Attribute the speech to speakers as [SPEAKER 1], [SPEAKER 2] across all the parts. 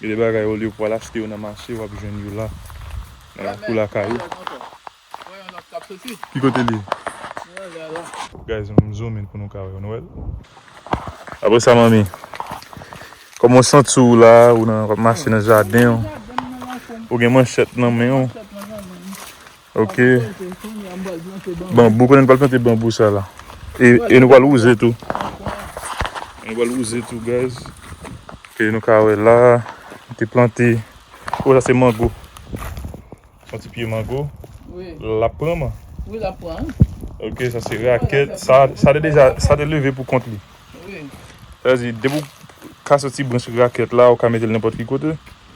[SPEAKER 1] Gen de bagay olye ou pwal achte yo nan mache wap jwenn yo la nan lakou lakay ou. Ki kote li ye? Guys m zoom in pou nou ka wèl nou wèl? Apre sa manmi Koman w santi w la ou nan wap mache nan jaden w ou gen manchèt nan men w. Ok. Banbou, konnen nou pral plante banbou sa la. E, e nou pral wouze tou. Nou pral wouze tou guys. Ke nou ka wè la, nou te plante. O, sa se mango. Son ti pye mango. Wi. Lap
[SPEAKER 2] pran man?
[SPEAKER 1] Wi, lap
[SPEAKER 2] pran. Ok, sa se
[SPEAKER 1] rakèt. Sa, sa te deja, sa te leve pou kont li. Wi.
[SPEAKER 2] Sa vle di, depi
[SPEAKER 1] ou ka soti branch rakèt la, ou ka mete l nenpòt ki kote.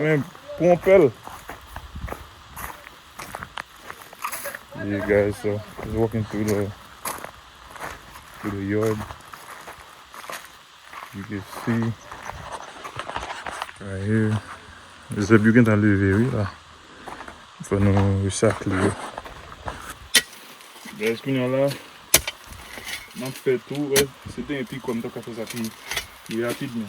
[SPEAKER 1] Men pwan pèl. Yeah guys so just walking through the through the yard. You can see right here. Zèb yo gentan leve wi la. Fò nou resakle yo. Guys kounya la map fè tou wè se te yon pi kwa m tap ka fè sa pi rapidman.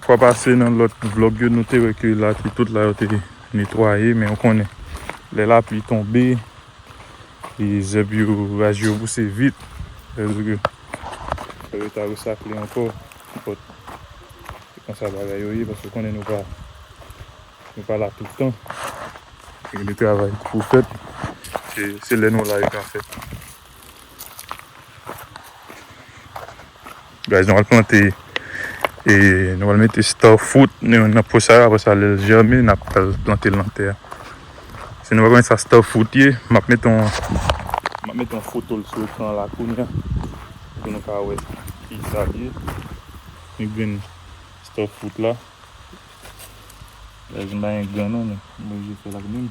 [SPEAKER 1] Fwa pase nan lòt vlog yo nou te wè ke la te tout la yo te netwaye men ou konnen lè lapli tonbe e zèb yo raj yo pouse vit sa vle di ke fò yo ta resakle ankò but se konsa bagay yo ye paske ou konnen nou pa nou pa la tout tan gen de travay ki pou fèt e se lè nou la yo ka fèt. Guys nou al plante e nou al mete star fruit nan pot sa apre sa lèl jèmi nap pral plantel nan tè a. Si nou pa konnen sa star fruit ye map met yon map met yon fotol sou ekran la kounya pou nou ka wè kisa l ye. Yon grenn star fruit la. Guys m pa gen grenn non men m oblije fèl ak menm.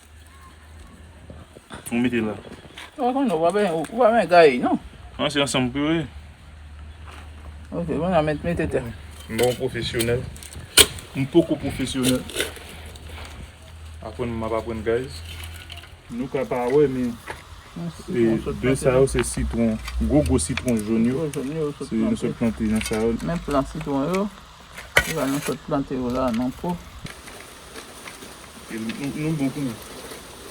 [SPEAKER 1] Ou mete la. Ou pa konnen, ou pa
[SPEAKER 2] ben, ou pa ben gaye non. An se ansanm pou yo ye. Ok, mwen a met mete te. Bon profesyonèl.
[SPEAKER 1] M poko profesyonèl. Aprann m ap aprann guys. Nou ka pa wè men e de sa yo se sitwon, gwo gwo sitwon jòn yo. Gwo jòn yo se nou sot plante nan sa yo. Men plan sitwon
[SPEAKER 2] yo. Se pa nou sot plante yo la non pou.
[SPEAKER 1] Nou bon kounya.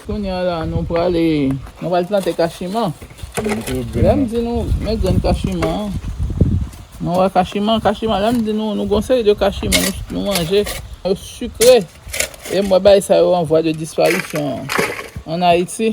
[SPEAKER 1] Kounya
[SPEAKER 2] la nou prale. Nou pral plante kachiman. Lèm di nou men grenn kachiman an. Nou wè kachiman, kachiman lèm di nou nou gon seri de kachiman nou manje. Yo sukre. E mwen bay sa yo an vwa de disparisyon an Ayiti.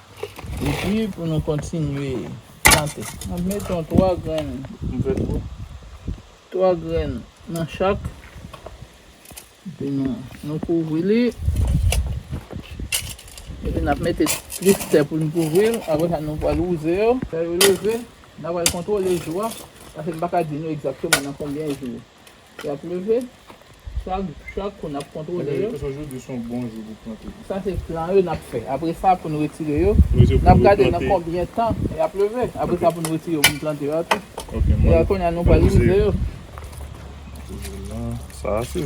[SPEAKER 2] Epi pou nou kontinye plante. Mwen mete yon 3 grenn. M fè twòp. 3 grenn nan chak. Epi nou kouvri li. Epi n ap mete plis tè pou nou kouvri l. Apre sa nou pral wouze yo. Lè yo leve, n a pral kontwole jou a. Pase m pa ka di nou egzakteman nan konbyen jou. Yap leve Chak chak kou nap kontwole yo. Eske jodi se yon bon
[SPEAKER 1] jou pou plante. Sa se plan yo nap
[SPEAKER 2] fè. Apre sa pou nou retire yo. Nap gade nan konbyen tan yap leve. Apre sa pou nou retire yo pou nou plante yo atou. Ok mwen retire. Kounye a nou pral wouze yo.
[SPEAKER 1] Sa ase.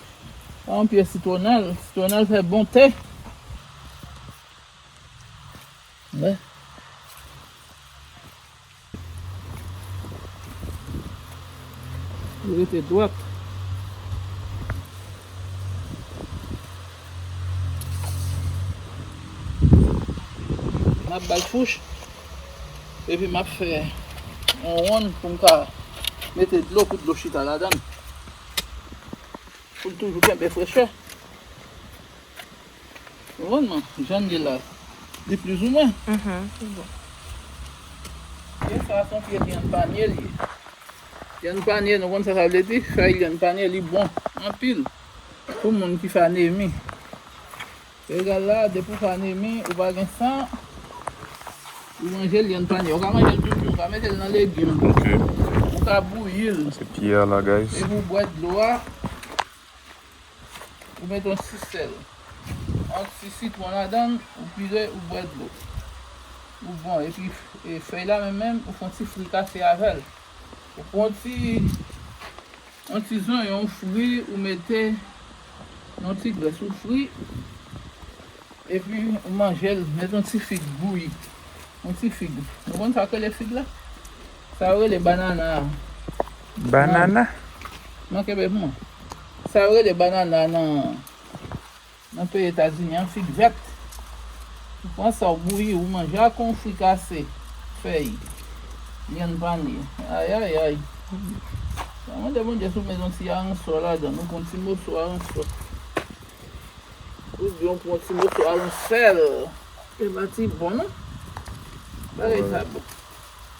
[SPEAKER 2] Sa yon pye sitwonèl. Sitwonèl fè bon te. Wè. Li rete dwat. M ap bay fouch. Epi m ap fè yon wonn pou m ka mete dlo pou dlo chita ladan l. Poul toujou kenbe frechè. Konprann mwen? Jan li la. Li plis ou mwen. Lyann sa son pye lyann panye li ye. Lyann panye nou konn sa sa vle di? Fèy lyann panye li bon anpil pou moun ki fè anemi. Regal la depi ou pa anemi ou pa gen san ou manje l yon panye ou ka manje l tout tou ou ka mete l nan legim ou ka bouyi l epi
[SPEAKER 1] ou bwè dlo a
[SPEAKER 2] ou mete yon ti sèl yon ti sitwon ladan l ou pire ou bwè dlo ou bon epi fèy la menm menm ou fon ti fri kase avèl ou pran yon ti Yon ti zonyon ou fri ou mete yon ti grès ou fri epi ou manjel met yon ti fig bouyi yon ti fig nou konn sak rele fig la sa yo rele banana a nan banana
[SPEAKER 1] nan
[SPEAKER 2] kenbe pou mwen sa yo rele banana nan Nan peyi etazini an fig vèt ou pran sa ou bouyi ou manje ak yon fwi kase fèy vyann panye ayayay mwen mande bondye si ou met yon ti aransò ladann ou pran ti moso aransò ou byen ou pran ti moso aransèl e pati bon non bagay sa bon.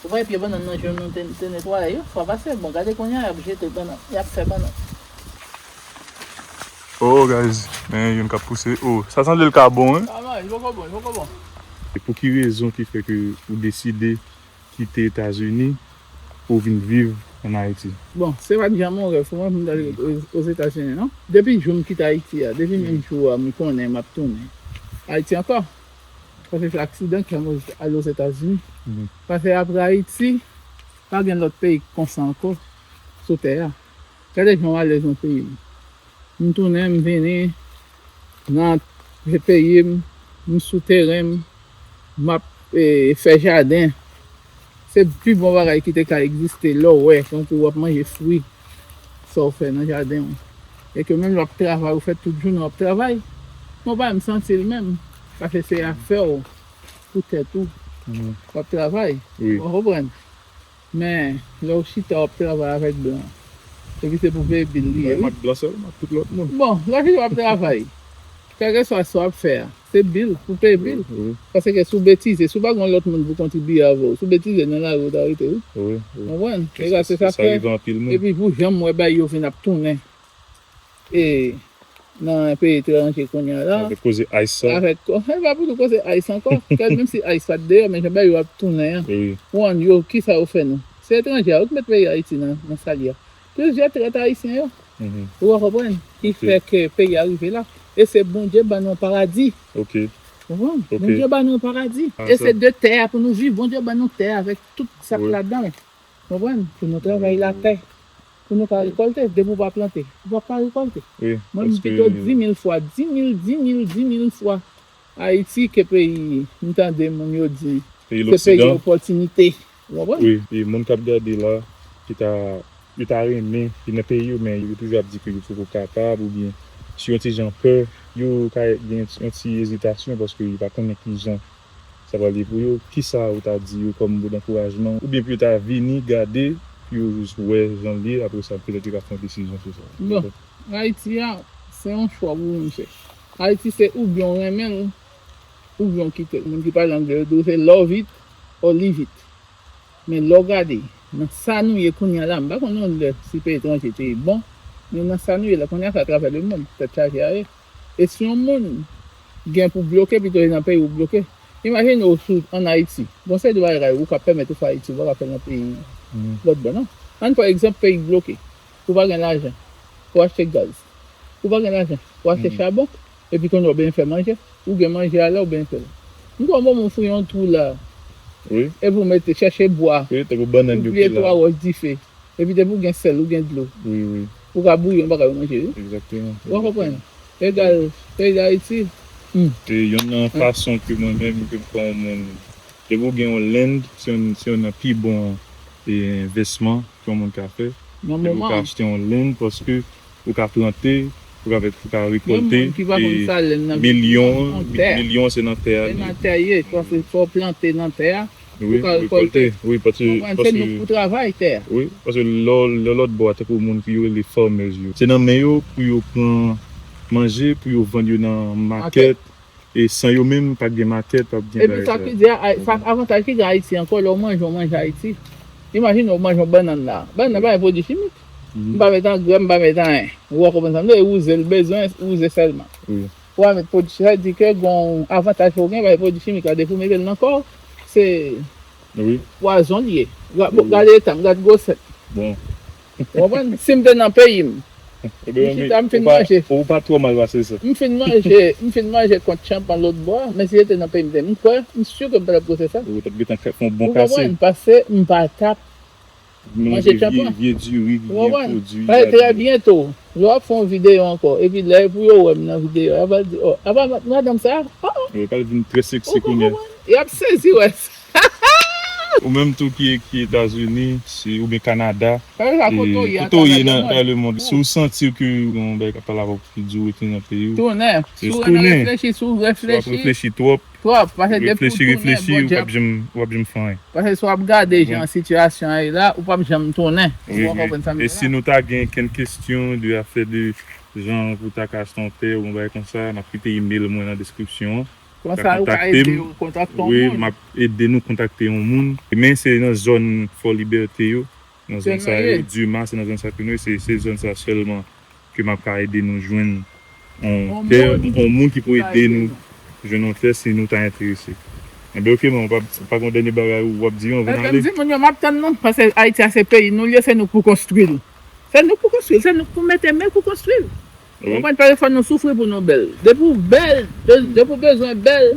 [SPEAKER 2] Ou bay pye banann nan jwenn ou te netwaye yon fwa pase
[SPEAKER 1] bon gade konnya yap jete banann yap fè banann. Oh guys men youn kap pouse oh sa sanble l ka bon wi. Ah non li poko bon li poko
[SPEAKER 2] bon. E pou ki
[SPEAKER 1] rezon ki fè ke ou deside kite etazini pou vin viv an ayiti? Bon se pat janm yon
[SPEAKER 2] rèv pou mwen pou m t ale ozetazini non depi jou m kite ayiti a depi menm jou a m konnen map tounen ayiti ankò Paske aksidan ki ale ozetazini pase apre ayiti pa gen lot peyi ki konsa anko sou tè a gade jan w alèz nan peyi m m tounen m vini nan peyi m m sou teren m map fè jaden. Se pi bon bagay ki te ka egziste lè w wè tankou w ap manje fwi sa w fè nan jaden w e ke menm lè w ap travay ou fè tout jounen w ap travay men w pa menm santi l menm paske se afè w pou tèt ou w ap travay ou konprann men lè w chita w ap travay avèk blan epi se pou veye bil li ye wi
[SPEAKER 1] bon lè w chita w ap travay.
[SPEAKER 2] Kèk espas sa w ap fè a, se bil pou peye bil. Paske si w betize, si w pa gen yon lòt moun pou kontribye avè w, si w betize nan lari yo ta rete wi. Ou konprann?
[SPEAKER 1] E sa
[SPEAKER 2] se sa k fè, epi pou jan m wè bagay yo vin ap tounen e nan peyi etranje kounye a la. Avèk koze ice sa. Avèk
[SPEAKER 1] ko, e pa pou nou
[SPEAKER 2] koze ice ankò. Kèl menm si ice pat deyò men jan bagay yo ap tounen an. Ou an yo,
[SPEAKER 1] kisa yo
[SPEAKER 2] fè nou? Se etranje a wi k met peyi Ayiti nan sa l ye a. Plizyè trèt ayisyen yo ou a konprann ki fè ke peyi a rive la e se Bondye ban nou yon paradi ou konprann Bondye ban nou yon paradi e se de tè a pou nou viv Bondye ban nou tè a avèk tout sa k ladanl ou konprann pou nou travay latè pou nou ka rekòlte depi ou pa plante ou pap ka rekòlte mwen m pito
[SPEAKER 1] di
[SPEAKER 2] mil fwa di mil di mil di mil fwa. Ayiti ke peyi, m tande moun yo di, ke peyi opòtinite. Ou konprann? Wi, e
[SPEAKER 1] moun k ap gade la, ki ta, yo ta renmen vin nan peyi yo, men yo toujou ap di ke yo poko kapab oubyen sou yon ti jan pè, yo ka gen yon ti ezitasyon paske yo pa konnen ki jan sa pral ye pou yo. Ki sa ou ta di yo kòm mo dankourajman oubyen pou yo ta vini gade, pou yo jis wè jan l ye, apre sa petèt yo ka pran desizyon sou sa? Bon, Ayiti
[SPEAKER 2] a, se yon chwa pou moun fè. Ayiti se oubyen w renmen l oubyen w kite l. Moun ki pale angle yo di w se love it or leave it. Men lè w gade nan sa nou ye kounye a la, m pa konn yon lè si peyi etranje te bon, men nan sa nou ye la kounye a se atravè lemonn tèt chaje a ye. E si yon moun gen pou bloke pito li nan peyi ou bloke. Imajine w si w ann Ayiti, gon seri de bagay ou ka pèmèt ou fè Ayiti ou pa ka fè l nan peyi lòt bò non. Ann pran egzanp peyi k bloke, ou pa gen lajan pou w achte gaz. Ou pa gen lajan, ou achte chabon, epi konnye ou benyen fè manje, ou gen manje a lè ou benyen fèl. M kwè ou bon pou m fouye yon twou la, epi
[SPEAKER 1] ou mete, chèche
[SPEAKER 2] bwa, ou pliye
[SPEAKER 1] twa wòch dife,
[SPEAKER 2] epi depi ou gen sèl, ou gen dlo, ou ka
[SPEAKER 1] bouyi yon bagay
[SPEAKER 2] ou manje wi. Ou
[SPEAKER 1] konprann?
[SPEAKER 2] Egal, peyi Dayiti, hum! Se
[SPEAKER 1] yonn nan fason ke mwen menm ke m kwè yon moun, depi ou gen yon land, se yonn nan pi bon envesman. ke yon moun ka fè e ou ka achte yon lenn paske ou ka plante ou ka fè ou ka rekolte e
[SPEAKER 2] milyon milyon
[SPEAKER 1] se nan
[SPEAKER 2] tè a
[SPEAKER 1] li ye
[SPEAKER 2] wi pou
[SPEAKER 1] rekolte wi
[SPEAKER 2] paske wi paske
[SPEAKER 1] lò lòt bò a tankou moun ki yo rele farmers yo se nan men yo pou yo pran manje pou yo vann yo nan makèt E san yo menm pa gen matè pap gen bagay sa. Epi sa
[SPEAKER 2] k avantaj ki gen Ayiti ankò lè w manje yon manje Ayiti. Imajine w manje yon bannann la. Bannann nan pa gen pwodui chimik. M pa met angrè, m pa met anyen. Ou a konprann sa m vle di. E wouze l bezwen wouze sèlman. Ou pa met
[SPEAKER 1] pwodui chimik.
[SPEAKER 2] Sa vle di ke gen yon avantaj ke w gen paske pwodui chimik la depi w mete l nan kò w se
[SPEAKER 1] pwazon l ye.
[SPEAKER 2] Gade eta m, gade gwosè m.
[SPEAKER 1] Ou konprann?
[SPEAKER 2] Si m te nan peyi m. M chita
[SPEAKER 1] m fin manje. Ou pa twò mal pase sa. M fin manje, m
[SPEAKER 2] fin manje kont tchanpan lòt bò a, men si se te nan peyi m te, m kwè, m si ke m pa t ap goute sa. Ou t ap gentan fè on bon
[SPEAKER 1] kase. Ou konprann? Pase m pa
[SPEAKER 2] t ap manje tchanpan. Manje vye diri ki byen pwodui. Ou konprann? Trè byento, yo ap fè on videyo ankò. Epi lè pou yo wè m nan videyo a, yo pral di, ò, apa madanm sa a? Ou konprann? Yo pral vin
[SPEAKER 1] trè seksi kounye a. Ou konprann? Y ap
[SPEAKER 2] sezi wè sa.
[SPEAKER 1] Ou menm tou ki ki etazini si ou byen kanada
[SPEAKER 2] kote ou ye nan
[SPEAKER 1] nan lemond si ou santi ke yon bagay kap pale avèw pou ki diw retounen nan peyiw tounen si ou
[SPEAKER 2] renmen
[SPEAKER 1] reflechi si ou ap reflechi twòp reflechi reflechi ou pap janm ou pap janm fè anyen paske si wap gade
[SPEAKER 2] jan sitiyasyon an ye la ou pap janm tounen e si
[SPEAKER 1] nou ta gen kenn kestyon de afè de jan pou ta ka achte yon tè ou yon bagay konsa nap kite email mwen nan deskripsyon an. Ka kontakte
[SPEAKER 2] m Wi m ap ede
[SPEAKER 1] nou kontakte yon moun Men se nan zòn Fò Libète yo Nan zòn sa yo Duma se nan zòn sa yo ke nou ye Se zòn sa yo sèlman Ke m ap ka ede nou jwenn yon tè Yon moun ki pou ede nou jwenn yon tè Si nou ta enterese Enben ok man Ou pa gen yon dènye bagay ou ap di yo anvan n ale? Ebyen m di moun yo m ap tann nou
[SPEAKER 2] Paske Ayiti a se peyi nou l ye Se nou k pou konstwi l. Fè nou pou konstwi l, fè nou pou mete men pou konstwi l. Ou konprann paske fò nou soufri pou nou bèl. Depi w bèl, depi w bezwen bèl,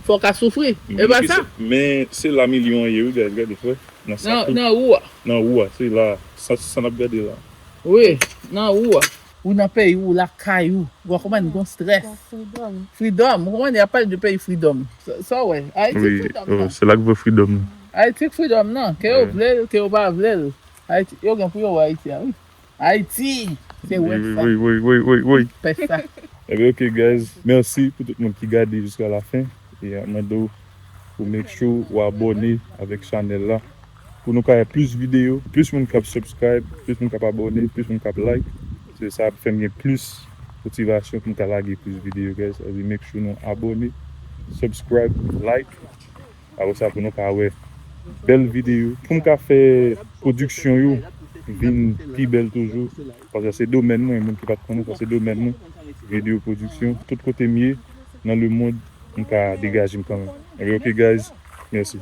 [SPEAKER 2] fò w ka soufri. E pa sa? Men se la milyon
[SPEAKER 1] an ye wi guys gade wè nan sa tou. Nan wou
[SPEAKER 2] a. Nan wou a se la
[SPEAKER 1] sa nap gade la. Wi
[SPEAKER 2] nan wou a. Ou nan peyi ou lakay ou wa konprann gon strès. Freedom ou konprann yap pale de peyi freedom sa w wè ayiti freedom nan.
[SPEAKER 1] Se la ki vre freedom nan. Ayiti freedom
[SPEAKER 2] nan ke yo vle l ke yo pa vle l. Ayiti yo gen pou yo
[SPEAKER 1] wè ayiti a wi ayiti se wè sa Woy woy woy woy woy fè sa. Ebyen ok guys merci pou tout moun ki gade jiska la fin e map mande w pou make sure ou abone avek chanel la pou nou ka wè plus video plus moun kap subscribe plus moun kap abone plus moun kap like se sa ap fèm gen plus motivation poum ka lage plus video guys make sure nou abone subscribe like. Apre sa pou nou ka wè bèl videyo pou m ka fè pwodiksyon yo vin pi bèl toujou paske se domèn mwen moun ki pat konnen sa se domèn mwen videyo pwodiksyon tout kote m ye nan lemond m ka degaje m kanmenm ok guys mèsi.